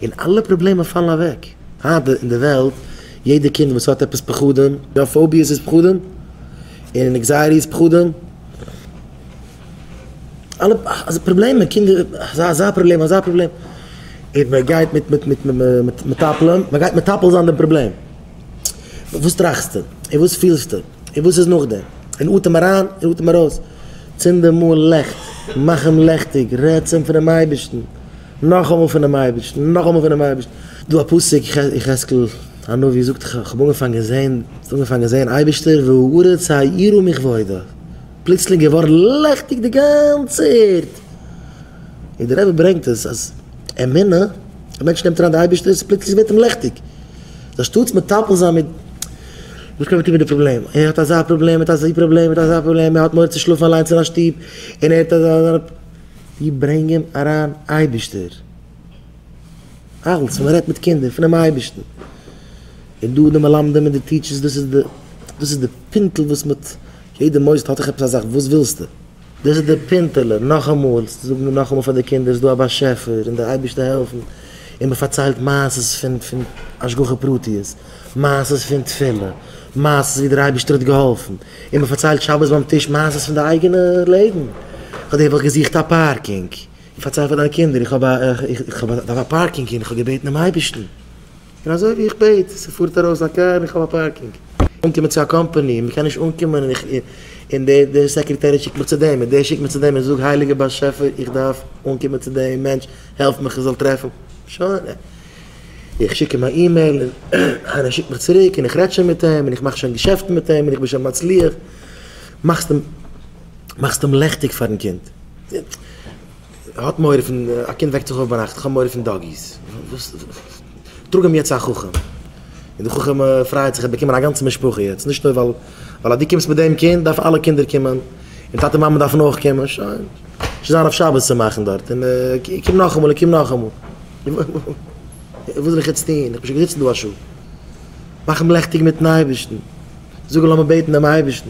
און אלע פראבלעמען פאלן אוועק. היינט אין די וועלט, יעדע קינד וואס האט עפעס פחדים, יא פאוביעס איז פחדים, און ענקזייעטי איז פחדים, אלע אזא פראבלעמען, קינדער אזא אזא פראבלעם אזא פראבלעם, און מען גייט מיט מיט מיט מיט מטפלים, מען גייט מטפל זיין די פראבלעם. וואס טראכסטו? און וואס פילסטו? און וואס איז נאכדעם? און אטעם אריין און אטעם ארויס. צינד אמאל לעכט, מאך אים לעכטיג, רעד צום פונעם אייבערשטן. נאכאמאל פונעם אייבערשטן, נאכאמאל פונעם אייבערשטן. דא א פסוק, יחזקאל הנביא זאגט, כ'האב אנגעפאנגען זען, אנגעפאנגען זען אייבערשטער, והארץ האירו מכבודו, פלוצלינג געווארן לעכטיג די גאנצע ערד, און דער רבי ברענגט עס אז אמונה, א מענטש נעמט אריין די אייבערשטער, פלוצלינג ווערט אים לעכטיג, אנשטאטס מטפל זיין מיט וואס קען מען טון מיט די פראבלעם, ער האט אזא פראבלעם, ער האט אזא פראבלעם, ער האט אזא פראבלעם, ער האט מורא צו שלאפן אליינס אין א שטוב, און ער האט אזא. ווי ברענגען אריין אייבישטער אלץ מען רעדט מיט קינדער פונעם אייבישטן איז דא די מלמדים און די טיטשערס דאס איז די דאס איז די פינטל וואס מען האט יעדע מוסד האט זיך עפעס א זאך וואס ווילסטו דאס איז די פינטעלע נאכאמאל צו זאגן נאכאמאל פאר די קינדער ס'איז דא א באשעפער און די אייבישטער העלפן און מען פארציילט מעשות פון פון השגחה פרטיות. מעשה'ס פון תפילה, מעשה'ס ווי דער אייבערשטער האט געהאלפן, און מען פארציילט שבת ביים טיש מעשה'ס פון די אייגענע לעבן, פאר דעם האב איך געזוכט א פארקינג, און פארצייל פאר דיינע קינדער איך האב א איך דארף א פארקינג און איך האב געבעטן דעם אייבערשטן, און אזוי ווי איך בעט ס'פארט ארויס א קאר און איך האב א פארקינג. אנקומען צו א קאמפאני און מען קען נישט אנקומען און איך און די סעקרעטערין שיקט מיך צו דעם און דער שיקט מיך צו דעם און זאג הייליגער באשעפער איך דארף אנקומען צו דעם מענטש העלף מיך איך זאל טרעפן שוין. איך שיק אים א אימעיל און ער שיקט מיך צוריק און איך רעד שוין מיט אים און איך מאך שוין געשעפטן מיט אים און איך בין שוין מצליח, מאכסט אים מאכסט אים לעכטיג פארן קינד, ער האט מורא פון, א קינד וועקט זיך אויף ביינאכט איך האב מורא פון דאגיס, טראג אים יעצט צו א חכם און די חכם פרייעט זיך ער האט באקומען א גאנצע משפחה יעצט נישט נאר ווייל ווייל אז דו קומסט מיט דעם קינד דארף אלע קינדער קומען און טאטע מאמע דארפן אויך קומען שוין, שוין זיין אויף שבת צו מאכן דארט און קום נאכאמאל און קום נאכאמאל. וואס זאל איך יעצט טון? איך בין שוין געזיצן דא א שעה. מאך אים לעכטיג מיט'ן אייבערשטן. זאג אים לאמיר בעטן דעם אייבערשטן.